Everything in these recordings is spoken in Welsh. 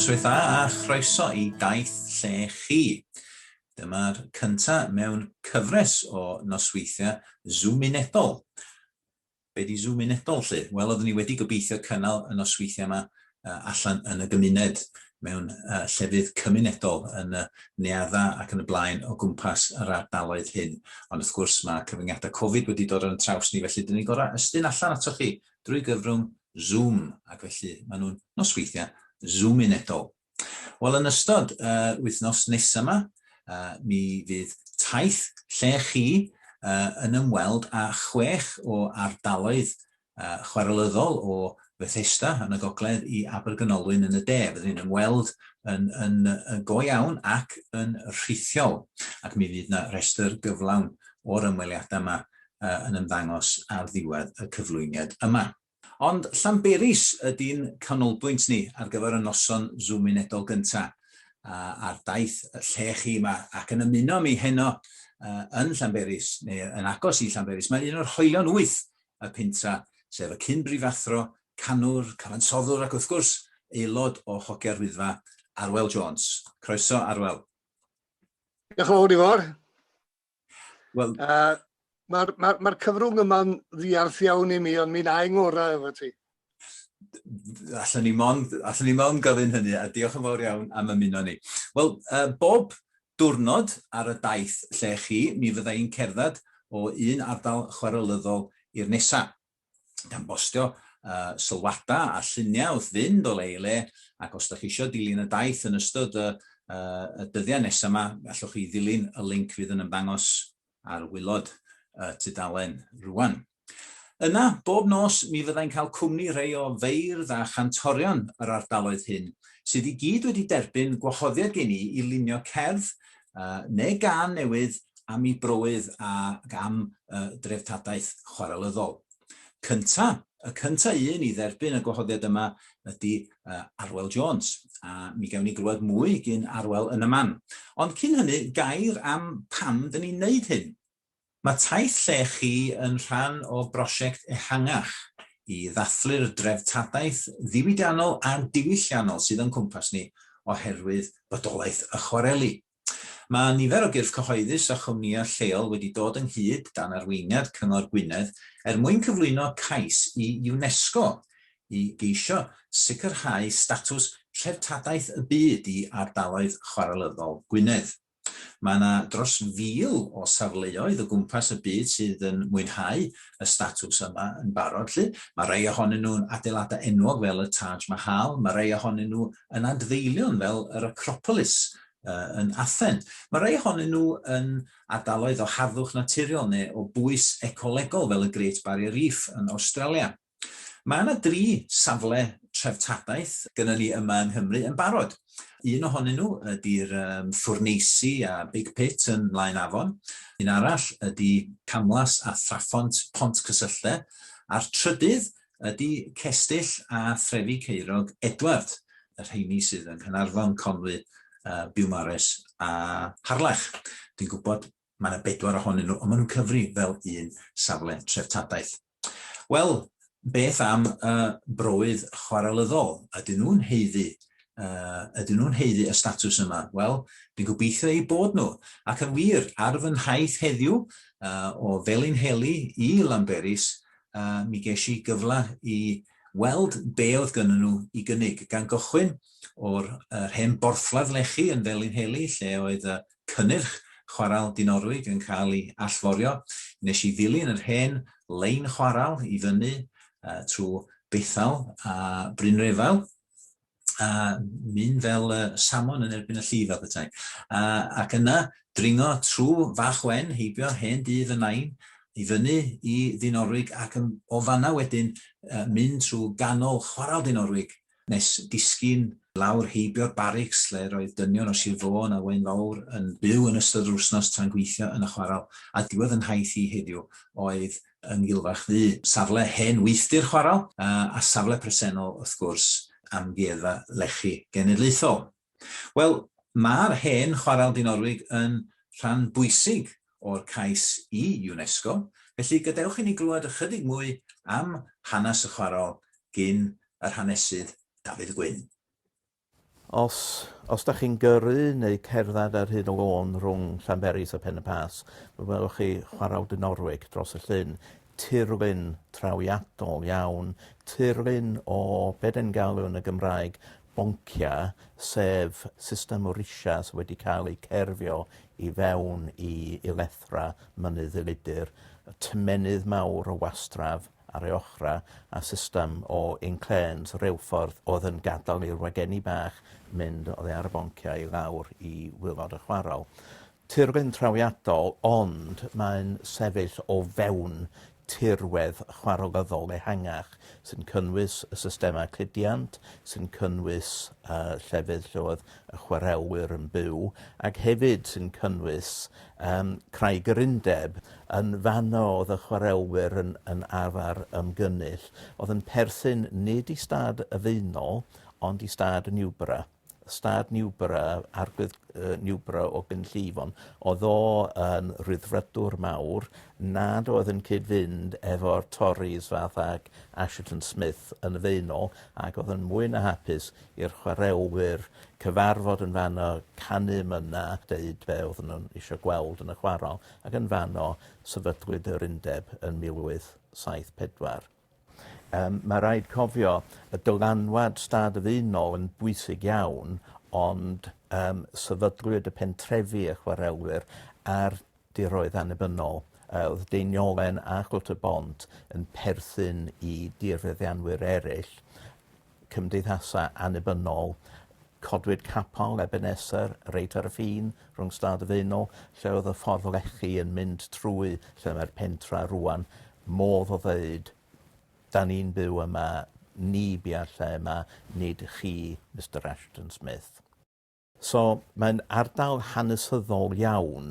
Noswaith dda a chroeso i daith lle chi. Dyma'r cyntaf mewn cyfres o nosweithiau Zoom unedol. Be di Zoom Unedol 'lly? Wel oeddwn i wedi gobeithio cynnal y nosweithiau yma allan yn y gymuned, mewn llefydd cymunedol, yn y neuaddau ac yn y blaen o gwmpas yr ardaloedd hyn, ond wrth gwrs mae cyfyngiadau Covid wedi dod ar yn traws ni felly dyn ni'n gorau ystyn allan atoch chi drwy gyfrwng Zoom ac felly maen nhw'n nosweithiau Zoom Unedol. Wel, yn ystod yr wythnos nesaf yma, uh, mi fydd taith lle chi uh, yn ymweld â chwech o ardaloedd uh, chwarelyddol o Fethesda yn y gogledd i Abergynolwyn yn y de. Byddwn ni'n ymweld yn, yn, yn go iawn ac yn rhithiol. Ac mi fydd yna rhestr gyflawn o'r ymweliadau yma uh, yn ymddangos ar ddiwedd y cyflwyniad yma. Ond Llanberis ydy'n canolbwynt ni ar gyfer y noson Zoom Unedol gynta', a ar daith lle chi 'ma ac yn ymuno â mi heno yn Llanberis, neu yn agos i Llanberis, mae un o'r hoelion wyth y Pentra', sef y cyn-brifathro, canwr, cyfansoddwr ac wrth gwrs, aelod o Hogia'r Wyddfa, Arwel Jones. Croeso, Arwel. Diolch yn fawr, Ifor. Wel... Uh, Mae'r ma, ma, cyfrwng yma'n ddiarth iawn i mi, ond mi'n aeng orau efo ti. Allan ni mond, allan ni mond gofyn hynny, a diolch yn fawr iawn am ymuno ni. Wel, uh, bob diwrnod ar y daith lle chi, mi fydda i'n cerdded o un ardal chwaraelyddol i'r nesaf. gan bostio uh, sylwada a lluniau wrth fynd o le i le, ac os ydych chi eisiau dilyn y daith yn ystod y, uh, y dyddiau nesaf yma, allwch chi ddilyn y link fydd yn ymddangos ar wylod y tudalen rwan. Yna, bob nos, mi fyddai'n cael cwmni rhai o feirdd a chantorion yr ardaloedd hyn, sydd i gyd wedi derbyn gwahoddiad gen i i lunio cerdd uh, neu gan newydd am i broydd a am uh, dreftadaeth chwarelyddol. Cynta, y cynta un i dderbyn y gwahoddiad yma ydy uh, Arwel Jones, a mi gawn ni glywed mwy gyn Arwel yn y man. Ond cyn hynny, gair am pam dyn ni'n neud hyn. Mae taith lle chi yn rhan o brosiect ehangach i ddathlu'r dreftadaeth ddiwydiannol a diwylliannol sydd o'n cwmpas ni oherwydd bodolaeth y chwareli. Mae nifer o gyrff cyhoeddus a chwmnïau lleol wedi dod ynghyd dan arweiniad Cyngor Gwynedd er mwyn cyflwyno cais i UNESCO i geisio sicrhau statws Treftadaeth y Byd i ardaloedd chwarelyddol Gwynedd. Mae yna dros 1,000 o safleoedd o gwmpas y byd sydd yn mwynhau y statws yma yn barod 'lly. Mae rhai ohonyn nhw'n adeiladau enwog fel y Taj Mahal, mae rhai ohonyn nhw yn adfeilion fel yr Acropolis yn Athen. Mae rhai ohonyn nhw yn ardaloedd o harddwch naturiol neu o bwys ecolegol fel y Great Barrier Reef yn Awstralia. Mae yna dri safle treftadaeth gynnon ni yma yng Nghymru yn barod. Un ohonyn nhw ydy'r um, ffwrneisi a Big Pit yn Mlaen Afon, un arall ydy Camlas a Thraphont Pont Cysylltau, a'r trydydd ydy Cestyll a Threfi Ceirog Edward, y rheini sydd yng Nghanarfon, Conwy, uh, Biwmares a Harlech. Dwi'n gwybod Mae yna bedwar ohonyn nhw, ond maen nhw'n cyfri fel un safle treftadaeth. Wel, beth am y broydd chwarelyddol? Ydyn nhw'n heiddi? Uh, ydyn nhw'n heiddi y statws yma? Wel, dwi'n gobeithio eu bod nhw. Ac yn wir, ar fy nhaith heddiw uh, o Felin Heli i Lamberis, uh, mi ges i gyfle i weld be oedd gynnyn nhw i gynnig, gan gychwyn o'r uh, hen borthladd lechi yn Felin Heli, lle oedd y cynnyrch chwarel Dinorwig yn cael ei allforio, nes i ddilyn yr hen lein chwarel i fyny trwy Bethel a Brynrefail, a mynd fel salmon yn erbyn y lli, fel petai. A, ac yna, dringo trwy Fach Wen, heibio hen dŷ fy nain, i fyny i Ddinorwig, ac o fanna wedyn mynd trwy ganol chwarel Dinorwig, Nes disgyn lawr heibio'r barics lle roedd dynion o Sir Fôn a Waun Fawr yn byw yn ystod yr wsnos tra'n gweithio yn y chwarel, a diwedd yn nhaith i heddiw oedd yng Ngilfach Ddu, safle hen weithdy'r chwarel, a safle presennol, wrth gwrs, Amgueddfa Lechi Genedlaethol. Wel, mae'r hen Chwarel Dinorwig yn rhan bwysig o'r cais i UNESCO, felly gadewch i ni glywed ychydig mwy am hanes y chwarel gin yr hanesydd Dafydd Gwyn. Os, os da chi'n gyrru neu cerdded ar hyd y lôn rhwng Llanberis a Pen-y-Pass, fe welwch chi Chwarel Dinorwig dros y llyn. Tirlun trawiadol iawn, tirlun o be' 'dan ni'n galw yn y Gymraeg Bonkia, sef system o risiau sydd wedi cael eu cerfio i fewn i ulethra Mynydd Ddulidyr, tymennydd mawr o wastraff ar ei ochrau, a system o inclêns, reilffordd, oedd yn gadael i'r wagenni bach mynd oddi ar y bonciau i lawr i waelod y chwarel. Tirwedd trawiadol ond mae'n sefyll o fewn tirwedd chwarelyddol ehangach sy'n cynnwys y systemau cludiant, sy'n cynnwys y llefydd lle oedd y chwarelwyr yn byw ac hefyd sy'n cynnwys yym Craig yr Undeb. Yn fanno oedd y chwarelwyr yn yn arfer ymgynnull, oedd yn perthyn nid i stad y Faenol ond i stad Newborough. Stad Newborough, Arglwydd Newborough o Gynllyfon, oedd o yn Rhyddfrydwr mawr nad oedd yn cyd-fynd efo'r Tories fath ag Asherton Smith yn y Faenol ac oedd yn mwy na hapus i'r chwaraewyr cyfarfod yn fanno, canu mynna, deud be oedden nhw'n eisiau gweld yn y chwarel ac yn fanno sefydlwyd yr Undeb yn 1874. Yym, mae rhaid cofio, y dylanwad stad y ddynol yn bwysig iawn, ond yym sefydlwyd y pentrefi, y chwarelwyr, ar diroedd annibynnol. Yy o'dd Deiniolen a Chwlt-y-bont yn perthyn i dirfeddianwyr eryll. cymdeithasau annibynnol, codwyd capel Ebeneser reit ar y ffin rhwng Stad y Faenol, lle oedd y ffordd lechi yn mynd trwy lle mae'r pentra rŵan, modd o ddeud, 'da ni'n byw yma, ni bia lle yma, nid chi, Mister Ashton-Smith. So, mae'n ardal hanesyddol iawn,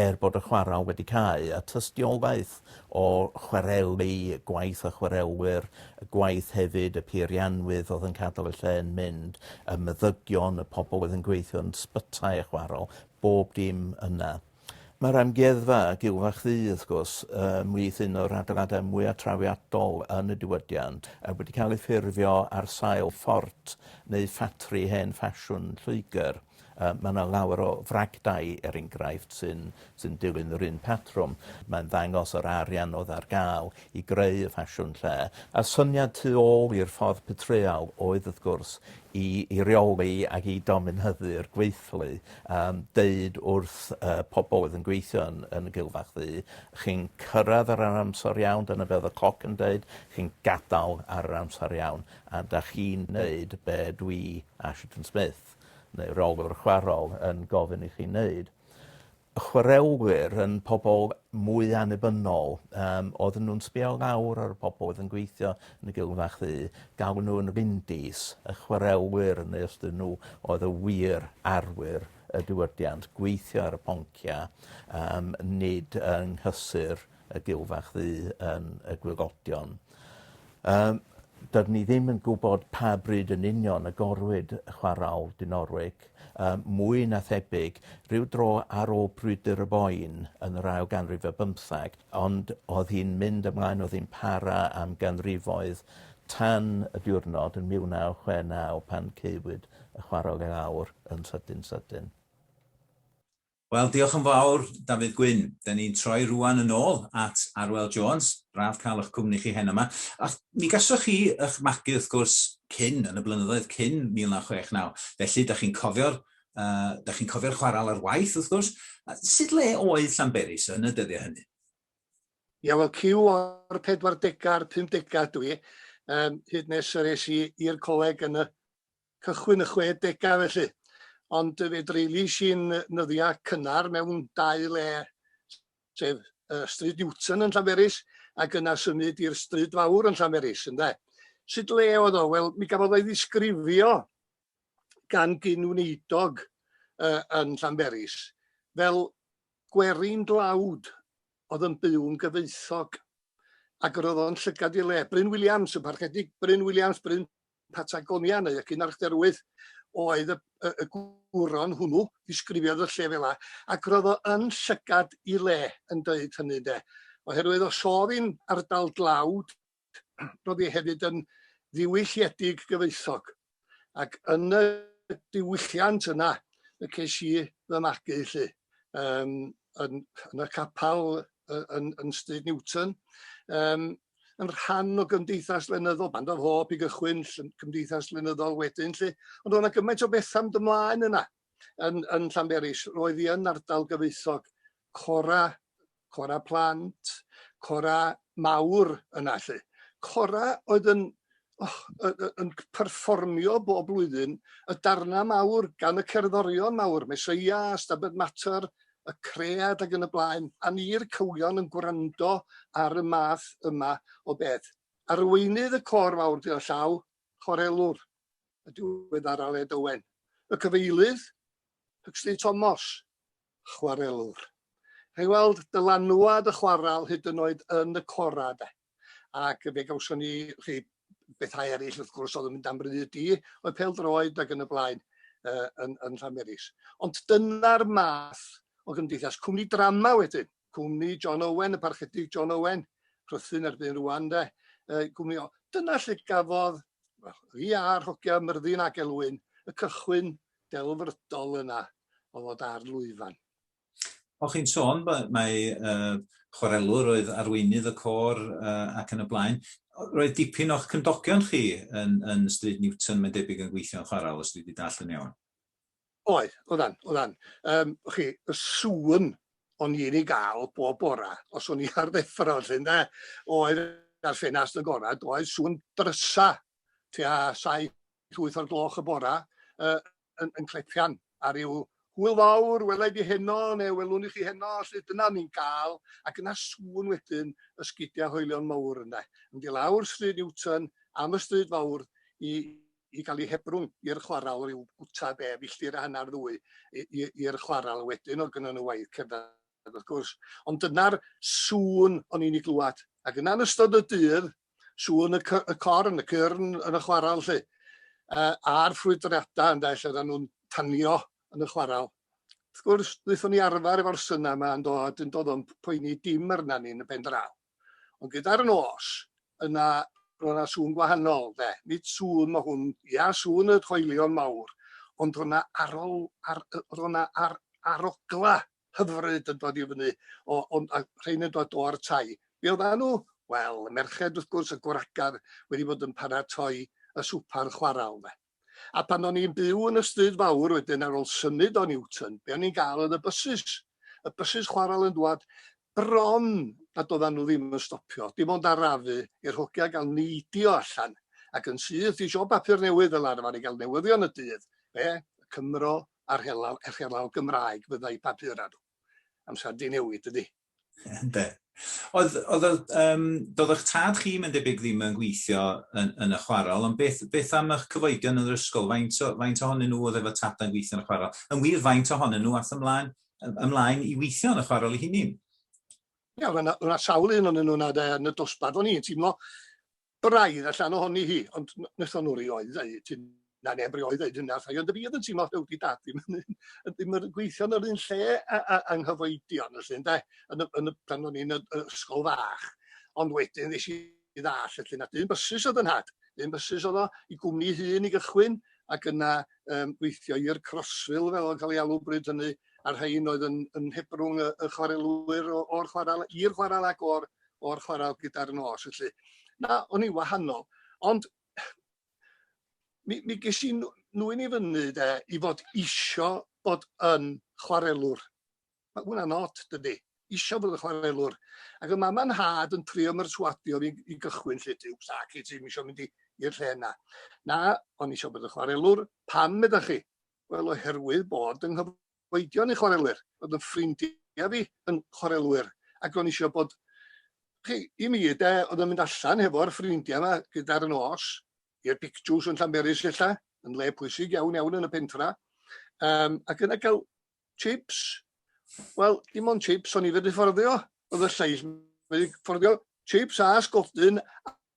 er bod y chwarel wedi cau, a tystiolaeth o chwarelu, gwaith y chwarelwyr, y gwaith hefyd y peirianwydd oedd yn cadel y lle yn mynd, y meddygion, y pobl oedd yn gweithio yn sbytai y chwarel, bob dim yna. Mae'r Amgueddfa, ac Ylfa Chdi, wrth gwrs, ymhlith un o'r adeiladau mwyaf trawiadol yn y diwydiant, a wedi cael ei ffurfio ar sail ffort neu ffatri hen ffasiwn Lloegr. Yy, mae 'na lawer o fragdai, er enghraifft, sy'n sy'n dilyn yr un patrwm. Mae'n ddangos yr arian oedd ar ga'l i greu y ffasiwn lle, a'r syniad tu ôl i'r ffordd petreal oedd wrth gwrs i i reoli ac i dominyddu'r gweithlu, yym deud wrth y pobl oedd yn gweithio yn yn y Gul Fach Ddu, chi'n cyrraedd ar yr amser iawn, dyna be oedd y cloc yn deud, chi'n gadael ar yr amser iawn, a 'da chi'n neud be dwi, Ashington Smith, neu rheolwr chwarel, yn gofyn i chi neud. y chwarelwyr yn pobl mwy annibynnol, um, oedden nhw'n sbio lawr ar y pobl oedd yn gweithio yn y gilw fach ddu, galw nhw yn rindis, y chwarelwyr yn nes dyn nhw oedd y wir arwyr y diwydiant, gweithio ar y ponciau, um, nid yng nghysur y gilfach ddu yn y gwygodion. Yym dydyn ni ddim yn gwybod pa bryd yn union y gorwyd chwarawl Dinorwig. Yym mwy na thebyg rhyw dro ar ôl brwydr y Boyne yn yr ail ganrif ar bymtheg ond o'dd hi'n mynd ymlaen o'dd hi'n para am ganrifoedd tan y diwrnod yn 1969 pan caewyd y chwarawl i lawr yn sydyn sydyn. Wel, diolch yn fawr, Dafydd Gwyn. Da ni'n troi rŵan yn ôl at Arwel Jones. Braf cael eich cwmni chi heno 'ma. A mi gasoch chi eich magu, wrth gwrs, cyn, yn y blynyddoedd cyn 1969. Felly, da chi'n cofio'r uh, da chi'n cofio'r chwaral ar waith, wrth gwrs. A sut le oedd Llanberis yn y dyddiau hynny? Ia, wel, cyw o'r 40au a'r 50au dwi, um, hyd nes yr es i i'r coleg yn y cychwyn y chwe degau felly, ond fe dreulies i'n nyddiau cynnar mewn dau le, sef uh, Stryd Newton yn Llanberis ac yna symud i'r Stryd Fawr yn Llanberis, ynde. Sut le oedd o? Wel, mi gafodd o'i ddisgrifio gan gyn wneidog uh, yn Llanberis fel gwerin dlawd oedd yn byw'n gyfoethog ac roedd o'n llygad i le. Bryn Williams, y parchedig Bryn Williams, Bryn Patagonia neu y Cynarchdderwydd oedd y y y gwron hwnnw ddisgrifiodd y lle fel 'a ac ro'dd o yn llygad 'i le yn deud hynny ynde oherwydd os o'dd 'i'n ardal dlawd ro'dd 'i hefyd yn ddiwylliedig gyfoethog ac yn y diwylliant yna y ces i fy magu 'lly. yym yn yn y capal yy yn yn Stryd Newton yym yn rhan o gymdeithas lenyddol Banda Hope i gychwyn ll- cymdeithas lenyddol wedyn 'lly ond o' 'na gymaint o betha'n dy mlaen yna yn yn Llanberis roedd 'i yn ardal gyfoethog cora cora plant, cora mawr yna 'lly. Cora oedd yn oh, yn perfformio bob blwyddyn y darna mawr gan y cerddorion mawr, Mesoea, Stabed Mater, y Cread ac yn y blaen, a ni'r cywion yn gwrando ar y math yma o beth. Arweinydd y cor mawr gyda llaw, chorelwr, y diwedd ar Aled Owen. Y cyfeilydd, Huxley Thomas, chwarelwr. Rhaid weld dylanwad y chwaral hyd yn oed yn y cora de. Ac fe gawson ni rhai bethau eraill wrth gwrs oedd yn mynd am ryd i, oedd pel droed ac yn y blaen uh, yn, yn Llanberis. Ond dyna'r math o gymdeithas. Cwmni drama wedyn. cwmni John Owen, y parchedig John Owen, Rhythun erbyn rwan de, uh, cwmni o. Dyna lle gafodd well, i a'r hogia Myrddin ac Elwyn y cychwyn delfrydol yna o fod ar lwyfan. O chi'n sôn, mae uh, chwarelwr oedd arweinydd y cor uh, ac yn y blaen. Roedd dipyn o'ch cymdogion chi yn, yn Stryd Newton, mae'n debyg yn gweithio'n chwarael, os dwi wedi dall yn iawn. Oedd, oeddan, oeddan. Um, chi, y sŵn o'n i'n ei gael bob bora, os o'n i ar ddeffro, lle, de, oedd ar ffenast y gorau, oedd sŵn drysa, tua 7-8 o'r gloch y bora, uh, yn, yn clepian ar ryw hwyl fawr, welai di heno, neu welwn i chi heno, lle dyna ni'n gael, ac yna sŵn wedyn ysgidiau hoelion mawr yna, yn mynd i lawr stryd Newton, am y stryd fawr, i, i gael ei hebrwng i'r chwarel ryw gwta be, filltir a hanner, ddwy, i'r chwarel wedyn, oedd gynnon nhw waith cerdded wrth gwrs. Ond dyna'r sŵn o'n i'n ei glywed. Ac yna yn ystod y dydd, sŵn y, y corn, y cyrn yn y chwarel lle, uh, a'r ffrwydrada ynde, lle oedden nhw'n tanio yn y chwarel. Wrth gwrs, wnaethon ni arfer efo'r syna yma yn dod, yn dod o'n poeni dim arna ni yn y pen draw. Ond gyda'r nos, yna roedd yna sŵn gwahanol, de. Nid sŵn, mae hwn, ia, sŵn y coelion mawr, ond roedd yna arol, ar, roedd yna ar, arogla hyfryd yn dod i fyny, o, o, a rhain yn dod o'r tai. Be oedd nhw? Wel, y merched, wrth gwrs, y gwragedd wedi bod yn paratoi y swper chwarael, de. A pan o'n i'n byw yn y stryd fawr wedyn ar ôl symud o Newton, be o'n i'n gael oedd y bysys. Y bysys chwarel yn dwad bron a doeddan nhw ddim yn stopio, dim ond arafu i'r hogia gael neidio allan ac yn syth i siop bapur newydd fel arfer i gael newyddion y dydd. Be? Y Cymro a'r helaw, e'r helaw Gymraeg fyddai papur ar nhw. Amser di newid, dydi? Ynde. Oedd, oedd, oedd, um, doedd eich tad chi mae'n debyg ddim yn gweithio yn, yn y chwarel, ond beth, beth am eich cyfoedion yn yr ysgol? Faint, o, faint ohonyn nhw oedd efo tad yn gweithio yn y chwarel? Yn wir, faint ohonyn nhw ath ymlaen, ymlaen i weithio yn y chwarel i hunin? Ia, yeah, yna sawl un o'n nhw'n yn y dosbarth o'n i'n teimlo braidd allan ohoni hi, ond wnaethon nhw rioed ddeud hyn, na neb rioed ddeud hynna wrtha i, ond fi oedd yn teimlo rhyw di dad ddim yn, ddim yn gweithio yn yr un lle a, a, a nghyfoedion felly ynde, yn y, yn y, pan o'n i'n y, y ysgol fach. Ond wedyn ddes i ddall felly na dyn bysus oedd yn had, dyn bysus oedd o i gwmni hun i gychwyn ac yna um, gweithio i'r Crossville fel o'n cael ei alw bryd hynny a'r rhain oedd yn, yn hebrwng y, y chwarelwyr o'r chwarel i'r chwarel ac o'r o'r chwarae gyda'r nos felly. Na, o'n i wahanol. Ond mi, mi ges i nwy'n i fyny de, i fod isio bod yn chwarelwr. Mae hwnna'n od, dydy. Isio bod yn chwarelwr. Ac y mam a'n had yn trio myrswadio fi i gychwyn lle ti, sac i ti, mi eisiau mynd i'r lle yna. Na, o'n i eisiau bod yn chwarelwr. Pam, meddach chi? Wel, oherwydd bod yng Nghyfro oedion i chwarelwyr, bod yn ffrindiau fi yn chwarelwyr, ac o'n eisiau bod, chi, i mi de, oedd yn mynd allan hefo'r ffrindiau yma gyda'r nos, i'r pictws yn Llanberis ella, yn le pwysig iawn iawn yn y pentra, um, ac yna cael chips, wel, dim ond chips o'n i wedi fforddio, oedd y lleill wedi fforddio chips a sgodyn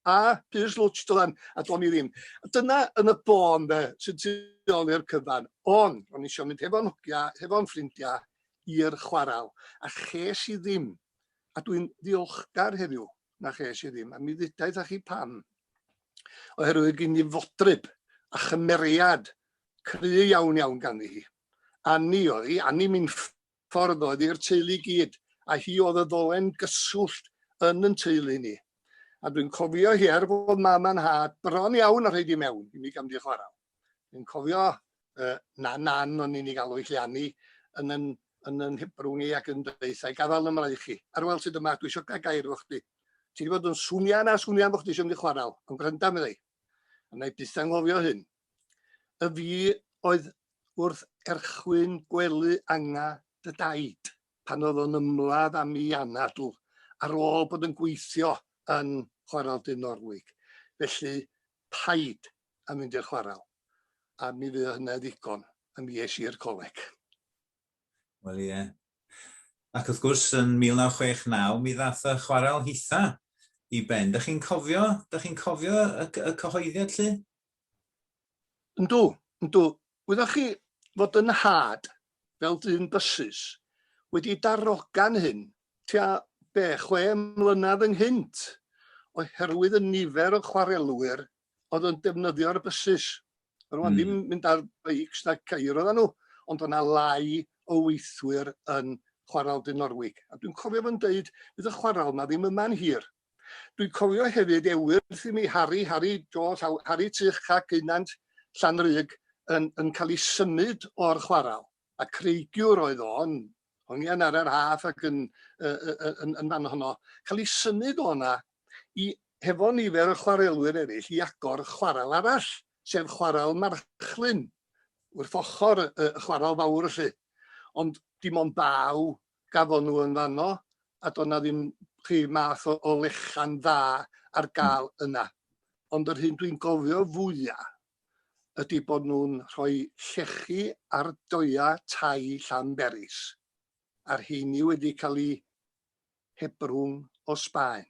A Piers Lwtsh dylan a do'n i ddim. Dyna yn y bôn de sy'n tu ôl i'r cyfan. Ond o'n i eisiau mynd hefo'n hogia, hefo'n ffrindia i'r chwaral a ches i ddim. A dwi'n ddiolchgar heddiw na ches i ddim a mi ddudaeth â chi pam. Oherwydd gyn i fodryb a chymeriad cry iawn iawn ganddi hi. Anni oedd hi, Anni Minffordd. ffordd oedd i'r teulu gyd, a hi oedd y ddolen gyswllt yn yn teulu ni. A dwi'n cofio hi er fod mam a'n nhad bron iawn a rhaid i mewn i mi gam di chwarae. Dwi'n cofio uh, na nan o'n i'n ei galw i chi anni yn yn yn yn hebrwng i ac yn deithau gafal yn mraich chi. Ar weld sydd yma, dwi eisiau gael gair efo chdi. Ti wedi bod yn swnio na swnio am bod chdi eisiau mynd i chwarae, ond gwranda meddai. A na i byth anghofio hyn. Y fi oedd wrth erchwyn gwely anga dy daid pan oedd o'n ymladd am i anadl ar ôl bod yn gweithio yn chwarel du Norwig. Felly, paid a mynd i'r chwarel. A mi fydd hynna ddigon. A mi es i i'r coleg. Wel ie. Ac wrth gwrs, yn 1969, mi ddath y chwarel hitha i ben. Da chi'n cofio, da chi'n cofio y, y cyhoeddiad, lly? Yndw, yndw. Wyddoch chi fod yn nhad, fel dyn bysus, wedi darogan hyn tua be, chwe mlynedd ynghynt, oherwydd y nifer o chwarelwyr oedd yn defnyddio'r bysus. Roedd mm. ddim mynd ar beics na ceir oedden nhw, ond yna lai o weithwyr yn chwarael dyn Norwig. A dwi'n cofio fo'n dweud, bydd y chwarael yma ddim yma'n hir. Dwi'n cofio hefyd ewyrth i mi Harri, Harri do, llaw, Harri Tych Cac Geunant Llanrug yn yn cael ei symud o'r chwarel, a creigiwr oedd o yn hongian ar yr Haf ac yn yy yy yy yn yn fan honno, cael ei symud o 'na i hefo nifer o chwarelwyr eryll i agor chwarel arall, sef chwarel Marchlyn, wrth ochr y y chwarel fawr 'lly. Ond dim ond baw gafon nhw yn fanno a do' 'na ddim rhyw math o o lechian dda ar ga'l yna. Ond yr hyn dwi'n gofio fwya ydi bod nhw'n rhoi llechi ar doea tai Llanberis a'r rheini wedi ca'l 'u hebrwng o Sbaen.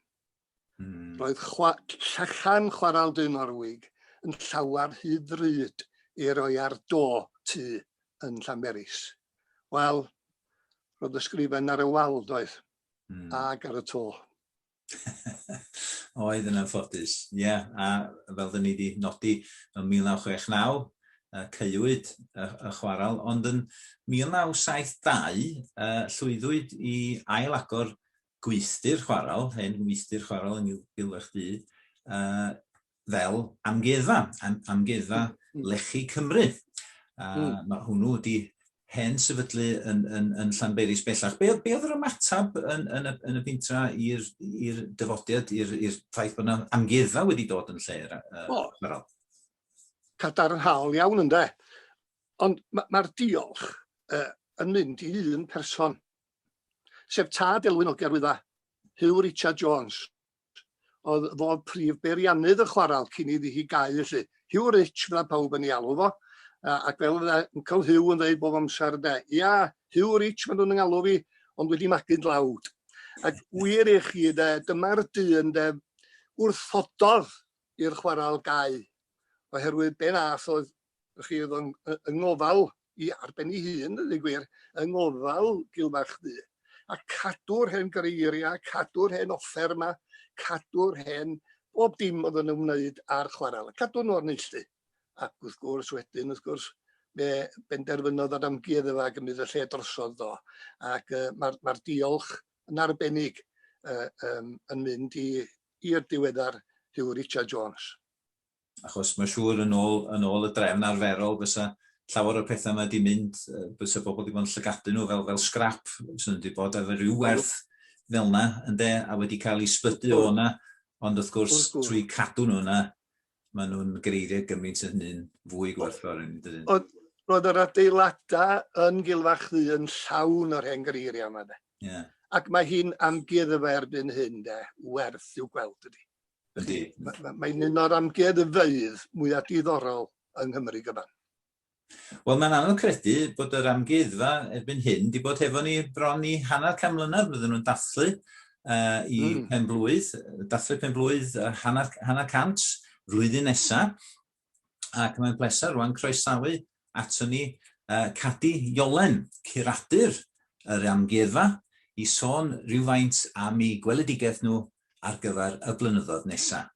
Hmm. Roedd chwa llechan chwarael du Norwig yn llawer hyd ddrud i roi ar do tu yn Llanberis. Wel, roedd ysgrifen ar y wal, doedd, hmm. ag ar y to. Oedd yn anffodus, ie, yeah. a fel dyn ni wedi nodi yn 1969, caewyd y chwarael, ond yn 1972 llwyddwyd i ail agor gweithdy'r chwarel, hen weithdy'r chwarel yn gil eich du, uh, fel amgueddfa, am, amgueddfa hmm. lechi Cymru. A mm. mae hwnnw wedi hen sefydlu yn, yn, yn Llanberis bellach. Be, be oedd yr ymateb yn, yn, y, yn y bintra i'r dyfodiad, i'r ffaith bod yna amgueddfa wedi dod yn lle? Uh, o, Meral? cadarnhaol iawn ynde. Ond mae'r ma diolch uh, yn mynd i un person sef tad Elwyn Ogger Wydda, Huw Richard Jones. Oedd fo prif beiriannydd y chwaral cyn iddi hi gau felly. Huw Rich fydda pawb yn ei alw fo, ac fel fydda Uncle Huw yn dweud bob amser de, ia, Huw Rich maen nhw'n yngalw fi, ond wedi magu'n dlawd. Ac wir i chi de, dyma'r dyn de wrthododd i'r chwaral gau, oherwydd be nath oedd chi oedd yn, yng ngofal i ar ben ei hun, yn ei gwir, yng ngofal Gilmarch Ddu. A cadw'r hen greiriau, cadw'r hen offer yma, cadw'r hen bob dim oedd yn ymwneud â'r chwarel, cadw nhw o'r neilltu. Ac wrth gwrs wedyn, wrth gwrs, fe benderfynodd yr amgueddfa a gymryd y lle drosodd do. Ac uh, mae'r ma diolch yn arbennig uh, um, yn mynd i'r diweddar Hugh Richard Jones. achos mae'n siŵr yn ôl, yn ôl y drefn arferol fysa llawer o'r pethau yma wedi mynd, bysa bobl wedi bod yn llygadu nhw fel, fel scrap, sy'n wedi bod efo rhyw werth fel yna, ynddo, a wedi cael ei sbydu o yna, ond wrth gwrs, wrth gwrs. trwy cadw nhw yna, maen nhw'n greiddiau gymaint yn hynny'n fwy gwerthfawr yn dydyn. Ond roedd yr adeiladau yn Gilfachdy yn llawn o'r hen greiriau yma, de. Yeah. Ac mae hi'n amgueddfa erbyn hyn, de, werth i'w gweld ydy. Ydy. Mae'n un o'r amgueddfeydd mwyaf diddorol yng Nghymru gyfan. Wel, mae'n anodd credu bod yr amgueddfa erbyn hyn wedi bod hefo ni bron i hanner can mlynedd fydden nhw'n dathlu uh, i mm. pen blwydd, dathlu pen blwydd uh, hanner, hanner cant flwyddyn nesaf. Ac mae'n bleser rwan croesawu ato ni uh, Cadi Iolen, curadur yr amgueddfa, i sôn rhywfaint am ei gweledigaeth nhw ar gyfer y blynyddoedd nesaf.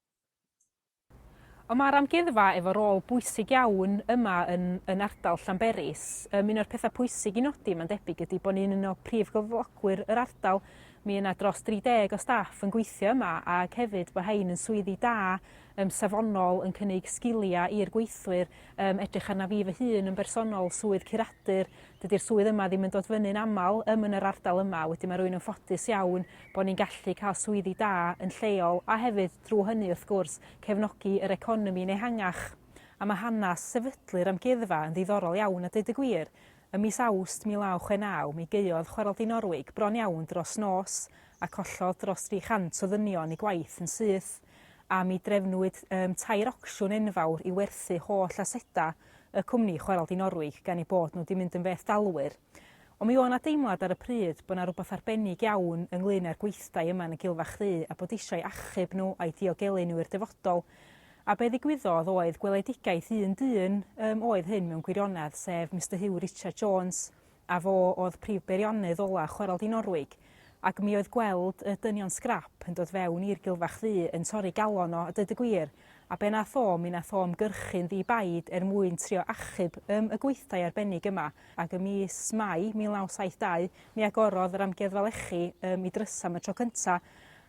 Ond mae'r amgueddfa efo rôl bwysig iawn yma yn, yn ardal Llanberis. Um, un o'r pethau pwysig i nodi, mae'n debyg, ydy bod ni'n un o prif gyflogwyr yr ardal. Mi yna dros 30 o staff yn gweithio yma ac hefyd bod hein yn swyddi da yym safonol yn cynnig sgiliau i'r gweithwyr, yym edrych arna fi fy hun yn bersonol, swydd curadur, dydy'r swydd yma ddim yn dod fyny'n aml yym yn yr ardal yma, wedyn mae rwy'n yn ffodus iawn bod ni'n gallu cael swyddi da yn lleol a hefyd drwy hynny wrth gwrs cefnogi yr economi'n ehangach. A mae hanes sefydlu'r Amgueddfa yn ddiddorol iawn a deud y gwir. Ym mis Awst 1969 mi gaeodd Chwarel Di Norwig bron iawn dros nos a collodd dros 300 o ddynion eu gwaith yn syth. a mi drefnwyd um, tair ocsiwn enfawr i werthu holl aseda y cwmni Chwarel Di Norwig gan ei bod nhw di mynd yn feth dalwyr. Ond mi oedd yna deimlad ar y pryd bod yna rhywbeth arbennig iawn ynglyn â'r gweithdai yma yn y Gilfa Chdi a bod eisiau achub nhw a'i diogelu nhw i'r dyfodol. A be ddigwyddodd oedd gweledigaeth un dyn um, oedd hyn mewn gwirionedd, sef Mr Hugh Richard Jones, a fo oedd prif beiriannydd ola' Chwarel Dŷ Norwig, ac mi oedd gweld y dynion sgrap yn dod fewn i'r gilfach ddu yn torri galon o, a deud y gwir, a be nath o, mi nath o ymgyrchu'n ddi-baid er mwyn trio achub ym y gweithdai arbennig yma, ac ym mis Mai 1972 mi agorodd yr amgueddfa lechi ym i drysa am y tro cynta',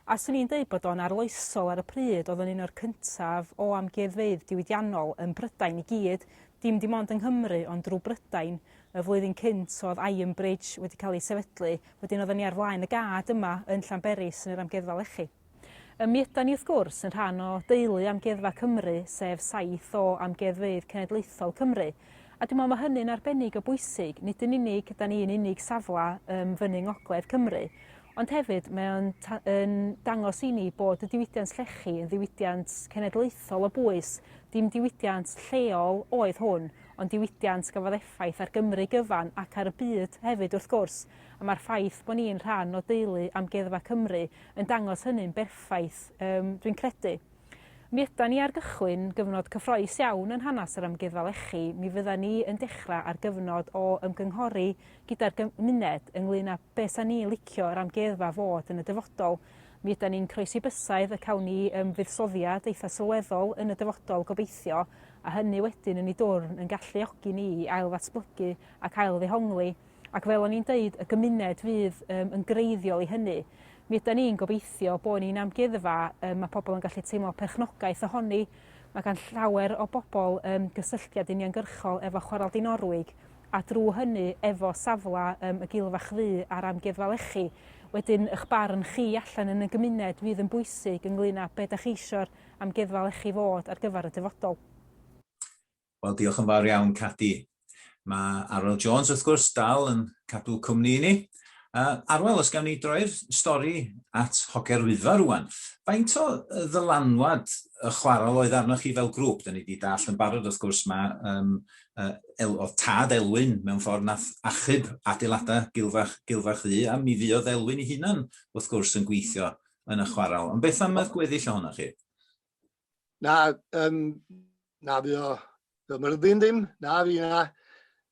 a 'swn i'n deud bod o'n arloesol ar y pryd, oedd o'n un o'r cyntaf o amgueddfeydd diwydiannol ym Mhrydain i gyd, dim dim ond yng Nghymru ond drw Brydain, y flwyddyn cynt oedd Iron Bridge wedi cael ei sefydlu, wedyn oedden ni ar flaen y gad yma yn Llanberis yn yr Amgueddfa Lechi. Ym mi ydan ni wrth gwrs yn rhan o deulu Amgueddfa Cymru, sef saith o Amgueddfeydd Cenedlaethol Cymru, a dwi'n meddwl mae hynny'n arbennig o bwysig, nid yn unig ydan ni'n unig safle ym fyny ngogledd Cymru, ond hefyd mae o'n yn dangos i ni bod y diwydiant llechi yn ddiwydiant cenedlaethol o bwys, dim diwydiant lleol oedd hwn, ond diwydiant gafodd effaith ar Gymru gyfan ac ar y byd hefyd wrth gwrs, a mae'r ffaith bod ni'n rhan o deulu Amgueddfa Cymru yn dangos hynny'n berffaith, yym, dwi'n credu. Mi ydan ni ar gychwyn gyfnod cyffroes iawn yn hanes yr Amgueddfa Lechi, mi fyddan ni yn dechrau ar gyfnod o ymgynghori gyda'r gymuned ynglŷn â Be sa ni licio yr amgueddfa fod yn y dyfodol? Mi ydan ni'n croesi bysaidd y cawn ni yym fuddsoddiad eitha sylweddol yn y dyfodol gobeithio a hynny wedyn yn ei dwrn yn galluogi ni i ailddatblygu ac ailddehongli ac fel o'n i'n deud y gymuned fydd yym yn greiddiol i hynny. Mi ydan ni'n gobeithio bod ni'n amgueddfa yym ma' pobl yn gallu teimlo perchnogaeth ohoni. Mae gan llawer o bobl yym gysylltiad uniongyrchol efo Chwarel Dinorwig a drwy hynny efo safle ym Gil Fach Ddu a'r Amgueddfa Lechi. Wedyn ych barn chi allan yn y gymuned fydd yn bwysig ynglŷn â be' 'dach chi isio'r Amgueddfa Lechi fod ar gyfer y dyfodol. Wel diolch yn fawr iawn Cadi. Mae Arwel Jones wrth gwrs dal yn cadw cwmni i ni. Uh, Arwel, os gawn ni droi'r stori at Hoger Wyddfa rwan. Faint o ddylanwad y chwarel oedd arnoch chi fel grŵp? Da ni wedi dall yn barod wrth gwrs mae um, oedd tad Elwyn mewn ffordd nath achub adeiladau Gilfach, Gilfach Ddu, a mi fuodd Elwyn ei hunan, wrth gwrs, yn gweithio yn y chwarel. Ond beth am y gweddill ohonoch chi? Na, um, na fi o fy myrddin ddim, na fi na,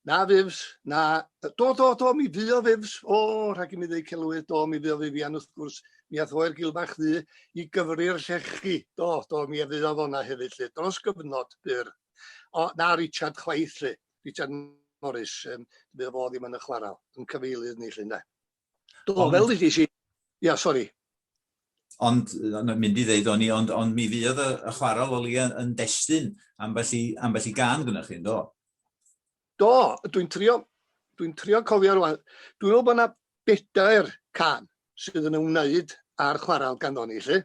na fifs, na, do, do, do, mi fi o fifs, o, rhaid i mi ddweud celwydd, do, mi fi o fifian wrth gwrs, mi ath oer Gilfach Ddu i gyfri'r llechi, do, do, mi a fi o fona hefyd lle, dros gyfnod byr. O, na Richard chwaith 'lly. Richard Morris, um, bydd fo ddim yn y chwarael, yn cyfeilydd ni 'lly ynde. Do, ond... fel ydych chi, ia, sori. Ond, mynd i ddeud o'n i, ond, ond mi fydd y, y chwarael o li yn destyn ambell i, ambell i gan gyda chi, do? Do, dwi'n trio, dwi'n trio cofio rwan. Dwi'n meddwl bod yna bedair can sydd yn ymwneud â'r chwaral ganddo ni, lle,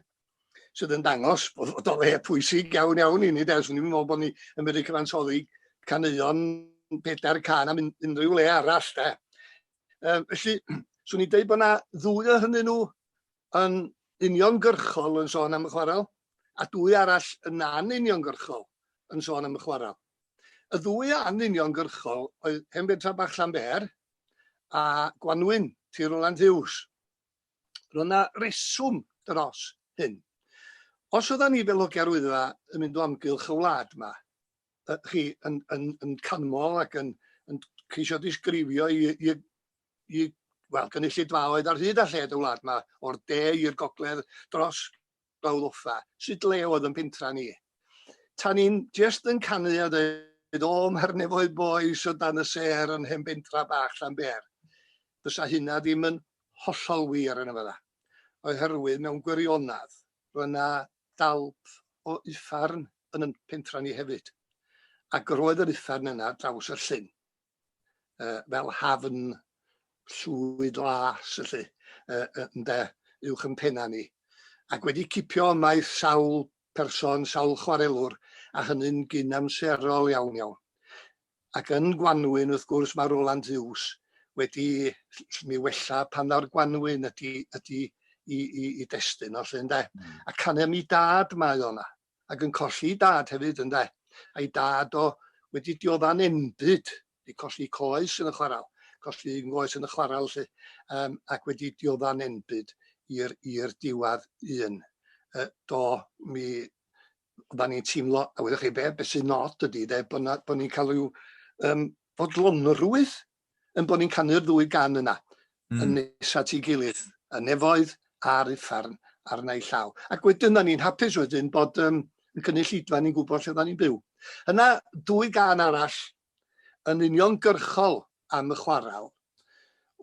sydd yn dangos bod o le pwysig iawn iawn i ni, de. Swn i'n meddwl bod ni yn medru cyfansoddi caneuon pedair can am unrhyw le arall, de. Um, felly, swn i'n dweud bod yna ddwy o hynny nhw yn uniongyrchol yn sôn am y chwaral, a dwy arall yn an uniongyrchol yn sôn am y chwaral. Y ddwy ân uniongyrchol oedd Hen Bentra Bach Llanber a Gwanwyn, Tŷ Rowland Hughes. Roedd yna reswm dros hyn. Os oeddan ni fel hogiau'r Wyddfa yn mynd o amgylch y wlad yma, chi yn, yn, yn canmol ac yn, yn ceisio disgrifio i, i, i wel, gynulleidfaoedd ar hyd a lled y wlad yma, o'r de i'r gogledd, dros brawd offa, sut le oedd yn pentra ni. Tan ni'n just yn canu a dweud, o, mae'r nefoedd boes o dan y ser yn hen bentra bach Llanber. Fysa hynna ddim yn hollol wir yn y fydda. Oherwydd mewn gwirionedd, roedd yna dalp o uffern yn yn pentra ni hefyd. Ac roedd yr uffern yna draws y llyn. uh, fel hafn llwyd las, felly, uh, ynde, uwch yn penna ni. Ac wedi cipio ymaith sawl person, sawl chwarelwr, a hynny'n gyn amserol iawn iawn. Ac yn Gwanwyn, wrth gwrs, mae Roland Hughes wedi mi wella pan ddaw'r Gwanwyn ydy, ydy i, i, i destun o lle, ynde? Mm. A canau mi dad mae o'na. ac yn colli ei dad hefyd ynde? A'i dad o wedi diodda'n enbyd, wedi colli coes yn y chwarel, colli un goes yn y chwarel lly, um, ac wedi diodda'n enbyd i'r diwadd un. Uh, do, mi oedden ni'n teimlo, a wedi'ch chi be, beth sy'n nod ydy, de, bod, bod ni'n cael rhyw um, fodlonrwydd yn bod ni'n canu'r ddwy gan yna, mm. yn nes at ei gilydd, y nefoedd a'r uffern arna ei llaw. Ac wedyn, da ni'n hapus wedyn bod um, y cynulleidfa ni'n gwybod lle da ni'n byw. Yna, dwy gan arall yn union gyrchol am y chwarael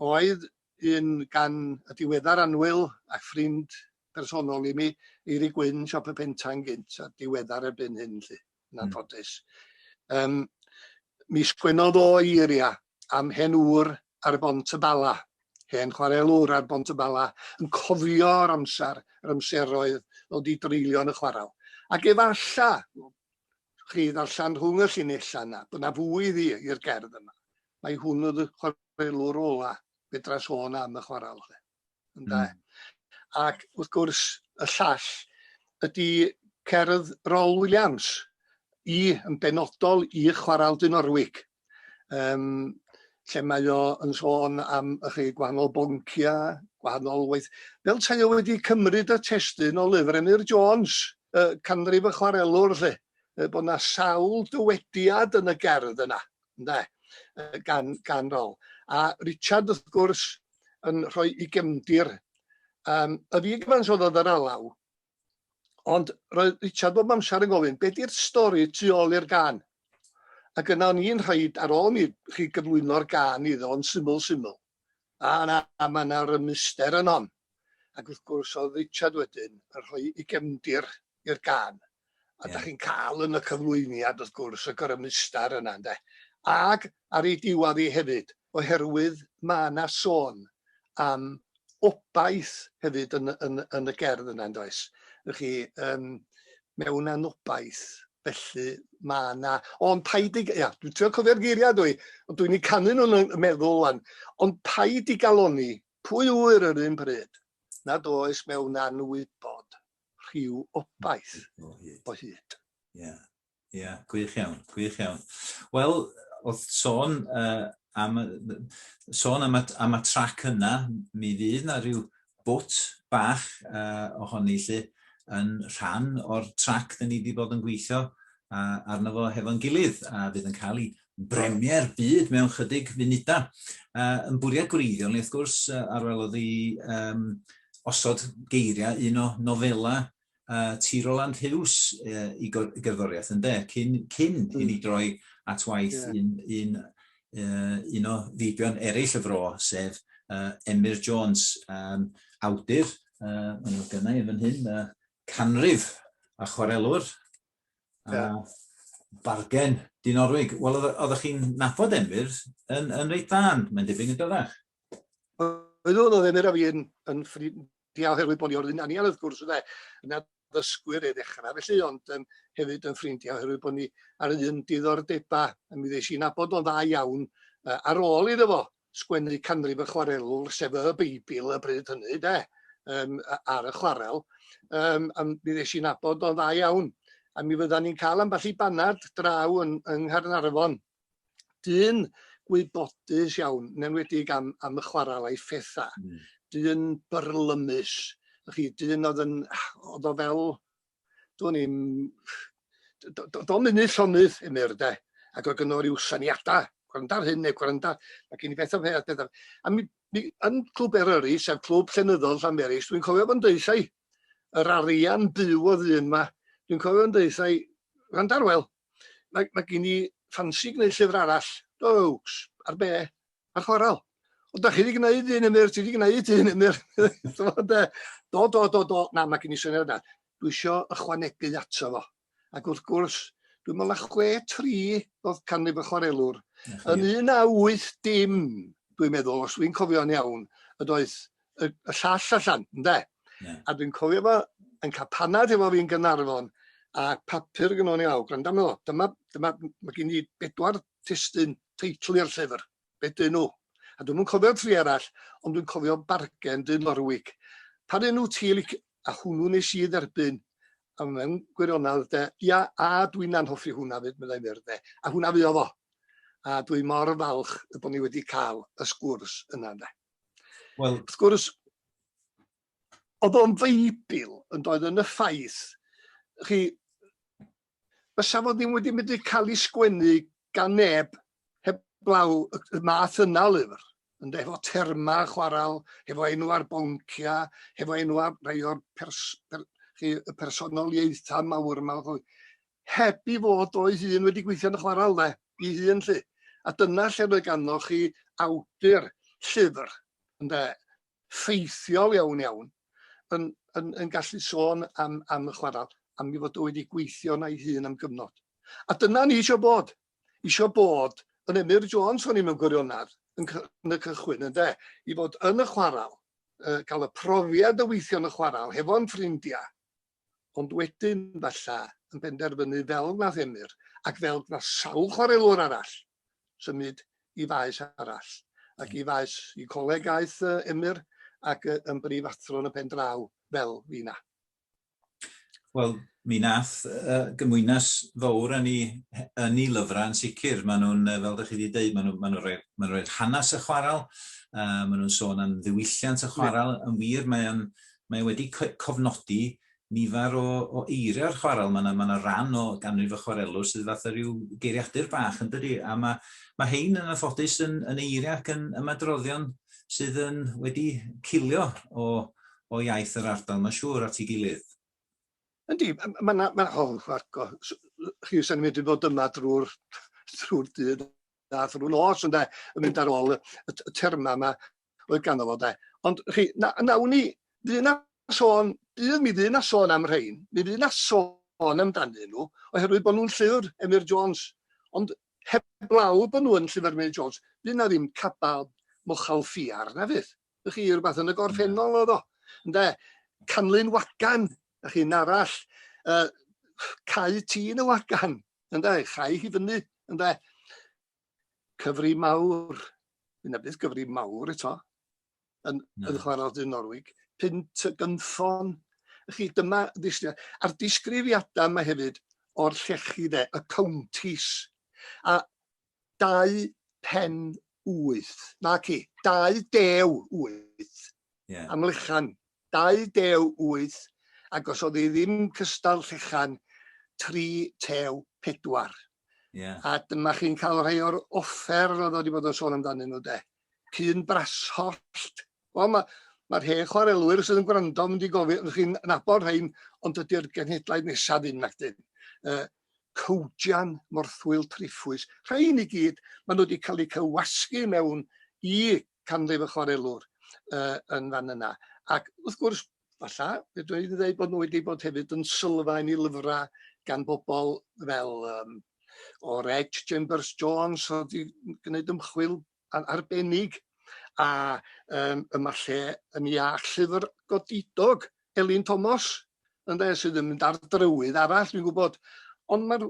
oedd un gan y diweddar anwyl a ffrind personol i mi, Eiri Gwyn, Siop y Pentang gynt, a diweddar erbyn hyn. Lly. yn hmm. anffodus. Um, mi sgwennodd o eiria am hen ŵr ar y bont y bala, hen chwarelwr ar bont y bala, yn cofio'r amser, yr amseroedd o di dreulio yn y chwarael. Ac efalla, chi ddarllen rhwng y llinellau yna, bod yna fwy iddi i'r gerdd yma. Mae hwn oedd y chwarelwr ola fedra sôn am y chwarael. ynde? Mm. Ac wrth gwrs y llall ydy cerdd Rol Williams i yn benodol i chwarael dyn Norwig. Um, lle mae o yn sôn am y chi gwahanol boncia, gwahanol waith. Fel tai o wedi cymryd y testyn o lyfr Emyr Jones, y canrif y chwarelwr lle, bod yna sawl dywediad yn y gerdd yna. ynde yy gan gan rôl a Richard wrth gwrs yn rhoi i gefndir yym y fi gyfans oedd yn alaw ond roedd Richard bob amser yn gofyn be di'r stori tu ôl i'r gan ac yna o'n i'n rhaid ar ôl mi chi gyflwyno'r gan iddo yn syml syml Na, na, mae yna rymuster yno. Ac wrth gwrs, oedd Richard wedyn yn rhoi ei gefndir i'r gan. A da chi'n cael yn y cyflwyniad, wrth gwrs, y grymuster yna, ynde. Ac ar ei diwedd i hefyd, oherwydd mae yna sôn am obaith hefyd yn, yn, yn y gerdd yna, yn does? Felly, um, mewn anobaith, Felly mae yna... Ond paid i... Ia, dwi'n trio cofio'r geiriau dwi, ond dwi'n ei canu nhw'n y meddwl wan. Ond paid i galoni, pwy ŵyr yr un bryd, nad oes mewn anwybod rhyw obaith o hyd. Ia, ia, gwych iawn, gwych iawn. Wel, oedd sôn uh, am, sôn am, y, am y trac yna, mi fydd na rhyw bwt bach uh, ohoni lly, yn rhan o'r trac dyn ni wedi bod yn gweithio uh, arno fo hefo'n gilydd, a fydd yn cael ei bremier byd mewn chydig funudau. Uh, yn bwriad gwreiddiol ni, wrth gwrs, uh, arwelodd i um, osod geiriau un o nofelau uh, ti Roland Hughes uh, i gerddoriaeth, yn de, cyn, cyn mm. i ni droi at waith yeah. un, un, uh, un o feibion eraill y fro, sef uh, Emyr Jones, um, awdur, uh, yn o'r gynnau yn hyn, uh, canrif a chwarelwr, yeah. a bargen dyn orwig. Wel, oeddech chi'n nabod Emyr yn, yn reit ddan, mae'n debyg yn dydach. Oedd oedd Emyr a fi yn, yn ffrind, Ia oherwydd bo' ni o'r un anian wrth gwrs ynde? Yn addysgwyr i ddechra felly ond yym hefyd yn ffrindia oherwydd bo' ni ar yr un diddordeba a mi ddesh i nabod o'n dda iawn yy ar ôl iddo fo sgwennu canrif y chwarelwr sef y Beibl y bryd hynny ynde? Yym a- ar y chwarel yym a mi ddesh i nabod o'n dda iawn a mi fyddan ni'n ca'l ambell i banad draw yn yng Nghaernarfon dyn gwybodus iawn, yn enwedig am, am y chwarael a'i phethau, mm. dyn byrlymus, chi, dyn oedd yn, oedd o fel, dwi'n i'n, do'n mynd llonydd emyr de, ac oedd gynnor i'w syniadau, gwranda'r hyn neu gwranda, mae gen i beth o peth, beth o... A mi, mi, yn clwb Eryri, sef clwb llenyddol Llanberis, dwi'n cofio fo'n deithau, yr arian byw oedd un yma, dwi'n cofio fo'n deithau, gwranda'r wel, Mae, mae gen i ffansi gwneud llyfr arall, jokes, ar be? Ar chwarael. O, da chi wedi gwneud un ymwyr, ti wedi gwneud un ymwyr. do, do, do, do, na, mae gen i syniad yna. Dwi eisiau ychwanegu ato fo. Ac wrth gwrs, dwi'n meddwl na chwe tri oedd canrif y chwarelwr. Yn un a wyth dim, dwi'n meddwl, os dwi'n cofio'n iawn, ydoedd y, y llall allan, ynde? Yeah. A dwi'n cofio fo yn cael panad efo fi'n Gynarfon, a papur yn o'n i awr, gwrando amdano fo, dyma, dyma, mae gen i bedwar testyn teitl i'r llyfr, be dyn nhw? A dwi'n mwyn cofio tri arall, ond dwi'n cofio bargen dyn Norwig. Pa dyn nhw ti, a hwnnw nes i dderbyn, a mewn gwirionedd, de, ia, a dwi'n anhoffi hwnna fyd, meddai fyr, de, a hwnna fi o fo. A dwi mor falch y bod ni wedi cael y sgwrs yna, de. Wel, wrth gwrs, oedd o'n feibl yn doedd yn y ffaith, chi, fysa fod ddim wedi mynd i cael ei sgwennu gan neb heblaw y math yna o lyfr, yn efo terma chwarael, efo enw ar boncia, efo enw ar rai o'r pers, per, chi, y personoliaethau mawr yma. heb i fod o'i hun wedi gweithio yn y chwarel yna i hun 'lly. A dyna lle mae ganddo chi awdur llyfr, ynde, ffeithiol iawn iawn, yn, yn, yn gallu sôn am, am y chwarel, am ei fod o wedi gweithio na'i hun am gyfnod. A dyna ni eisiau bod. Eisiau bod yn Emyr Jones o'n i mewn gwirionedd yn, yn y cychwyn, ynde, i fod yn y chwarel, uh, cael y profiad o weithio yn y chwarel, hefo'n ffrindiau, ond wedyn, falla, yn penderfynu fel wnaeth Emyr, ac fel gwnaeth sawl chwarelwr arall, symud i faes arall, ac i faes i coleg aeth Emyr ac yn brifathro yn y pen draw fel fina. Wel, mi nath uh, gymwynas fawr yn ei, yn ei lyfrau yn sicr. Maen nhw'n, fel ydych chi wedi dweud, maen nhw'n ma nhw rhoi, ma rhoi hanes y chwarael, uh, maen nhw'n sôn am ddiwylliant y chwarael. Yeah. Yn wir, mae o'n mae e wedi cofnodi nifer o, o eiriau o'r chwarel. Mae yna, ma yna ran o ganrif y chwarelwr sydd fatha rhyw geiriadur bach yn dydi, a mae, mae hein yn anffodus yn, yn eiriau ac yn ymadroddion sydd yn wedi cilio o, o iaith yr ardal, mae'n siŵr, at ei gilydd. Yndi, mae yna, ma, oh, Marco, chi sy'n mynd i fod yma drwy'r drwy dydd a drwy nos ynde, yn mynd ar ôl y, y, y terma yma oedd ganddo fo de. Ond chi, na, nawn ni, fydd na sôn, bydd mi fydd na sôn am rhain, mi fydd na sôn amdanyn nhw, oherwydd bod nhw'n llyfr Emyr Jones. Ond heblaw bod nhw'n llyfr Emyr Jones, fydd na ddim cabal mochal ffiar na fydd. Ydych chi, rhywbeth yn y gorffennol oedd o. Ynde, canlyn wagan, ydych chi'n arall, uh, cau tîn y wagan, ynde, chau hi fyny, ynde. cyfri mawr, yna bydd cyfri mawr eto, yn, no. yn chwarae dyn Norwig, pint y gynffon. Chi, dyma, a'r disgrifiadau yma hefyd o'r llechi de, y counties, a dau pen wyth, na ci, dau dew wyth, yeah. amlychan 28 ac os oedd hi ddim cystal llechan 34. Yeah. A dyma chi'n cael rhai o'r offer oedd wedi bod yn sôn amdanyn nhw de. Cyn brasollt. Wel, mae'r ma hen chwarelwyr sydd yn gwrando yn mynd i gofyn, chi'n nabod rhain, ond dydy'r genhedlaeth nesaf ddim nac dyn. Uh, cowdian, morthwyl, triffwys, rhain i gyd, maen nhw wedi cael eu cywasgu mewn i canrif y chwarelwr uh, yn fan yna. Ac wrth gwrs, falla, fedrwn i ddweud bod nhw wedi bod hefyd yn sylfaen i lyfrau gan bobl fel um, o'r Edge Chambers Jones oedd wedi gwneud ymchwil arbennig a um, yma lle yn iach llyfr godidog Elin Thomas ynde sydd yn mynd ar drywydd arall dwi'n gwybod ond mae'r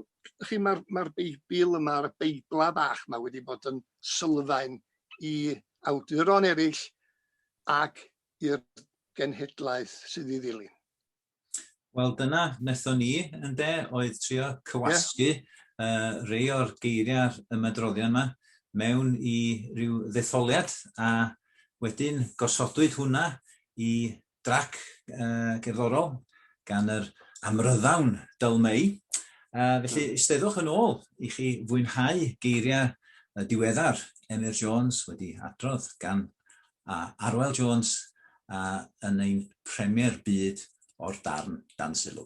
chi mae'r mae'r Beibl yma a'r Beiblau bach yma wedi bod yn sylfaen i awduron eraill ac i'r genhedlaeth sydd i ddilyn. Wel dyna wnaethon ni yn de oedd trio cywasgu yeah. uh, rei o'r geiriau ymadroddion yma mewn i ryw ddetholiad a wedyn gosodwyd hwnna i drac uh, gerddorol gan yr amryddawn Dyl Mei. Uh, felly, ysteddwch yn ôl i chi fwynhau geiriau y diweddar Emyr Jones wedi adrodd gan uh, Arwel Jones uh, yn ein premier byd o'r darn dan sylw.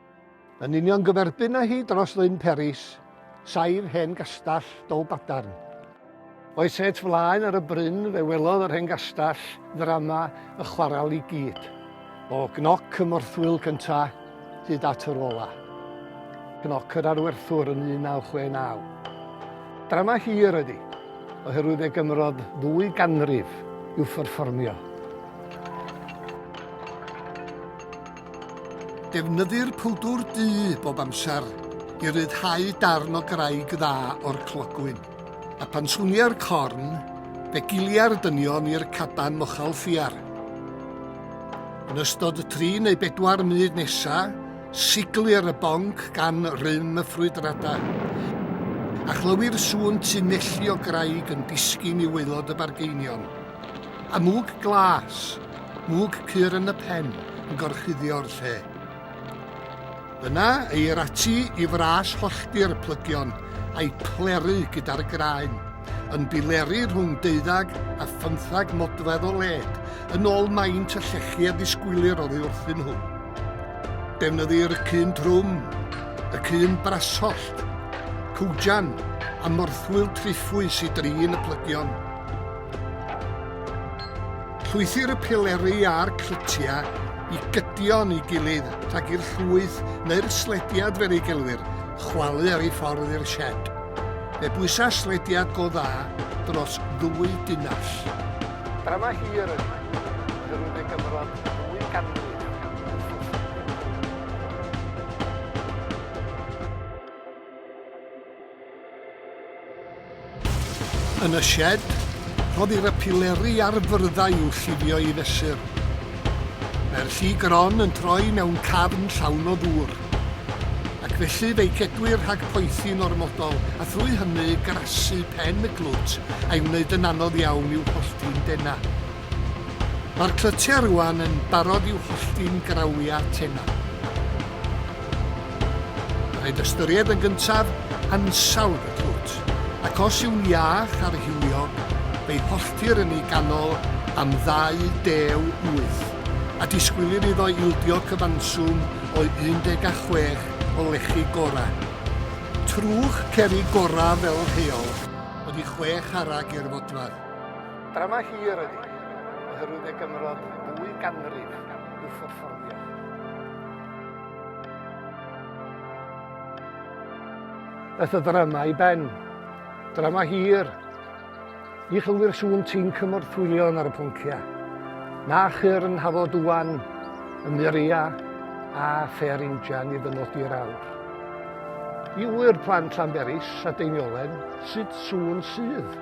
Yn union gyferbyn â hi dros Lyn Peris, saif hen gastell Dolbadarn. O'i set flaen ar y bryn fe welodd yr hen gastell ddrama y chwarel i gyd, o gnoc y morthwyl cynta hyd at yr ola. Cnoc yr Arwerthwr yn 1969. Drama hir ydi, oherwydd fe gymrodd ddwy ganrif i'w pherfformio. Defnyddir pwdwr du bob amser i ryddhau darn o graig dda o'r clogwyn, a pan swnia'r corn, fe gilia'r dynion i'r caban mochel ffiar. Yn ystod y tri neu bedwar munud nesa, siglir y bonc gan rym y ffrwydrada, a chlywi'r sŵn tunelli o graig yn disgyn i waelod y bargeinion. Amwg glas! mwg cur yn y pen yn gorchuddio'r lle. Yna, eir ati i fras hollti'r plygion a'i phleru gyda'r graen, yn bileru rhwng deuddag a phymthag modfedd o led, yn ôl maint y llechi a ddisgwylir oddi wrthyn nhw. Defnyddir y cun trwm, y cun brasollt, cwjan a morthwyl triffwys i drin y plygion. Llwythir y pileri a'r clytiau i gydion i gilydd rhag i'r llwyth neu'r slediad fel ei gelwir chwalu ar ei ffordd i'r sied. Fe bwysa slediad go dda dros ddwy dunnall. Drama hir oedd hwn, ond yr wyf ei gyfrol ddwy ganrif yn ffwrdd. Yn y sied, rhoddir y pileri a'r fyrddau i'w llifio i fesur. Mae'r lli gron yn troi mewn cafn llawn o ddŵr. Ac felly fe'i cedwir rhag poethi'n ormodol a thrwy hynny grasu pen y glwt a'i wneud yn anodd iawn i'w hollti'n denau. Mae'r clytiau rŵan yn barod i'w hollti'n grawiau tenau. Rhaid ystyried yn gyntaf ansawdd y clwt, ac os yw'n iach ar hiliog, fe'i holltir yn ei ganol am 28, a disgwylir iddo ildio cyfanswm o 16 o lechi gorau. Trwch cerrig gorau fel rheol, ydy chwe charreg i'r fodfadd. Drama hir ydi, oherwydd fe gymrodd ddwy ganrif i'w pherfformio. Daeth y drama i ben. Drama hir. Ni chylwyr sŵn ti'n cymorthwylio ar y pwncia. Na chyr yn hafo dwan, y muria a ffer injan i ddynodi'r awr. I wyr plant Llanberis a Deiniolen, sut sŵn sydd?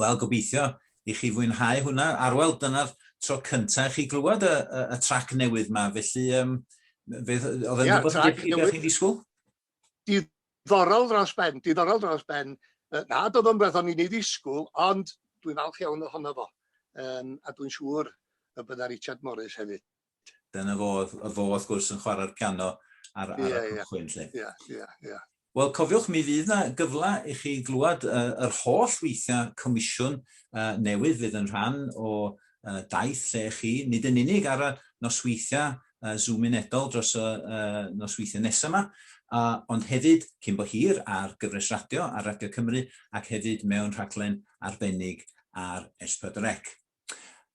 Wel, gobeithio i chi fwynhau hwnna. Arwel, dyna'r tro cyntaf i chi glywed y, y, y trac newydd ma, felly um, fe, oedd yn yeah, rhywbeth dych chi beth chi'n disgwyl? Diddorol dros ben, diddorol dros ben. Na, doedd o'n beth o'n i'n ei ddisgwyl, ond dwi'n falch iawn ohono fo. Um, a dwi'n siŵr y bydda Richard Morris hefyd. Dyna fo, y fo wrth gwrs yn chwarae'r piano ar, ar yeah, y cychwyn. Yeah, yeah, yeah, yeah. Wel, cofiwch, mi fydd yna gyfle i chi glywed uh, yr holl weithiau comisiwn uh, newydd fydd yn rhan o uh, daith lle chi, nid yn unig ar y nosweithiau uh, Zoom unedol dros y uh, nosweithiau nesaf yma, uh, ond hefyd cyn bo hir ar gyfres radio ar Radio Cymru ac hefyd mewn rhaglen arbennig ar S4C.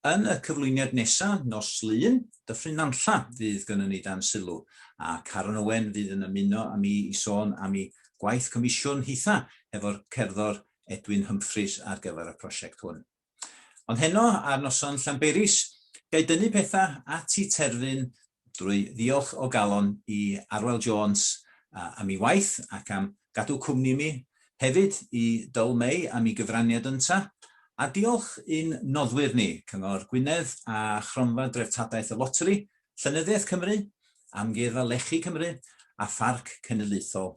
Yn y cyflwyniad nesa, nos Lun, Dyffryn Nantlla fydd gynnon ni dan sylw, a Caron Owen fydd yn ymuno â mi i sôn am i gwaith comisiwn hitha hefo'r cerddor Edwin Humphreys ar gyfer y prosiect hwn. Ond heno, ar noson Llanberis, ga i dynnu petha at i terfyn Drwy ddiolch o galon i Arwel Jones am ei waith ac am gadw cwmni i mi, hefyd i Dyl May am ei gyfraniad ynta, a diolch i'n noddwyr ni, Cyngor Gwynedd a Chronfa Dreftadaeth y Loteri, Llenyddiaeth Cymru, Amgueddfa Lechi Cymru a Pharc Cenedlaethol